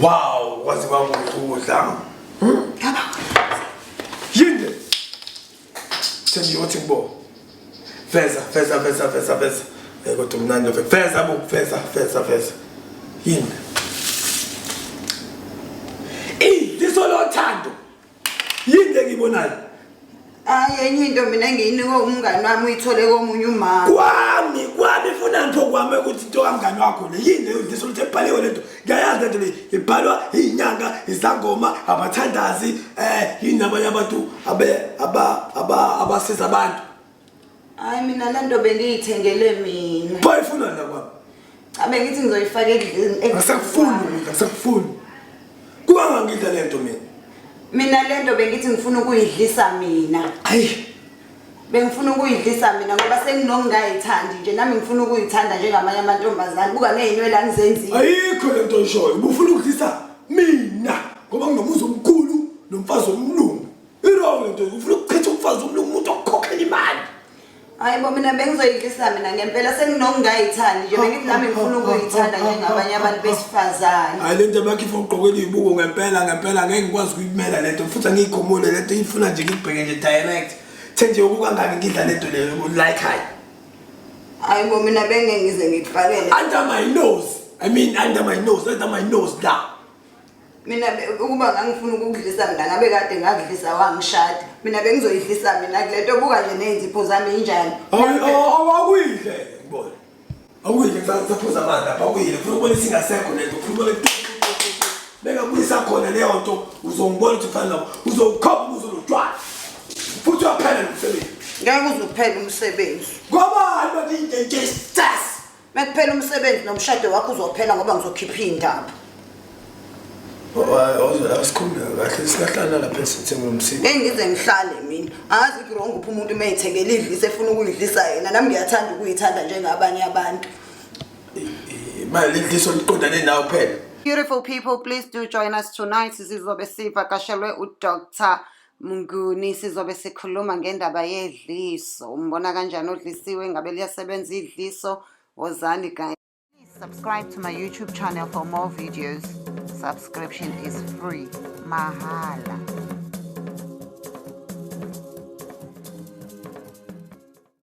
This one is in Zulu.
Wow, kwaze kwakuhle ukudla. Ngaba. Yinde. Sengiyothi kubo. Feza, feza, feza, feza, feza. Eh kodwa mnandi feza, feza, feza, feza, feza. Yinde. yini engiyibonayo hayi enye into mina engiyinikwe umngani wami uyithole komunye umama kwami kwami funa ntho kwami ukuthi into kamngani wakho le yini leyo ndiso ukuthi ebhaliwe lento ngiyayazi lento le ibhalwa iyinyanga izangoma abathandazi um yini abanye abantu abasiza abantu Hayi mina le nto bengiyithengele mina. Pho ifuna la kwami. Cha bengithi ngizoyifaka ekudleni. Akusakufuni ukudla, akusakufuni. Kuba ngangidla le nto mina. Mina le nto bengithi ngifuna ukuyidlisa mina. Hayi. Bengifuna ukuyidlisa mina ngoba senginongayithandi nje nami ngifuna ukuyithanda njengamanye amantombazane. Buka nezinwele angizenzile. Ayikho le nto oyishoyo. Ubufuna ukudlisa mina ngoba nginomuzi omkhulu nomfazi omlungu. Irong into ufuna ukuchitha umfazi omnye umuntu okukhokhela imali. Hayi bo mina bengizoyidlisa mina ngempela senginokungayithandi nje bengithi nami ngifuna ukuyithanda njengabanye abantu besifazane. Hayi lento bakhe ifuna ugqoke izibuko ngempela ngempela ngeke ngikwazi ukuyimela lento futhi angiyikhomule lento ifuna nje ngibheke nje direct. The nje ukukangaki ngidla lento leyo like hayi. Hayi bo mina bengeke ngize ngikufanele. Under my nose. I mean under my nose, under my nose la. mina ukuba ngangifuna ukukudlisa mina ngabe kade ngakudlisa wangishada mina bengizoyidlisa mina kule nto buka nje ney'nzipho zami injani awakuyidle ngibona awuyidle kusaphuza amanzi apha awuyidle funa ukubona isingasekho le nto funa ukubona bengabuyisa khona leyo nto uzongibona ukuthi ufana nabo uzowukhopha ubuzo lotshwala futhi uyaphela nomsebenzi ngeke uzuphela umsebenzi ngobani bathi into nje sas Mekuphela umsebenzi nomshado wakho uzophela ngoba ngizokhipha indaba. Awusikhulumela kahle sikahlala lapha esithengwe umsini. Ngeke ngize ngihlale mina. Angazi ukuthi wrong uphi umuntu uma ethekela idlisa efuna ukuyidlisa yena. Nami ngiyathanda ukuyithanda njengabanye abantu. Imali idliso liqondane nawe kuphela. Beautiful people, please do join us tonight. Sizobe sivakashelwe uDr. Mnguni, sizobe sikhuluma ngendaba yedliso. Umbona kanjani odlisiwe? Ngabe liyasebenza idliso? Wozani guys. Please subscribe to my YouTube channel for more videos. Subscription is free. Mahala.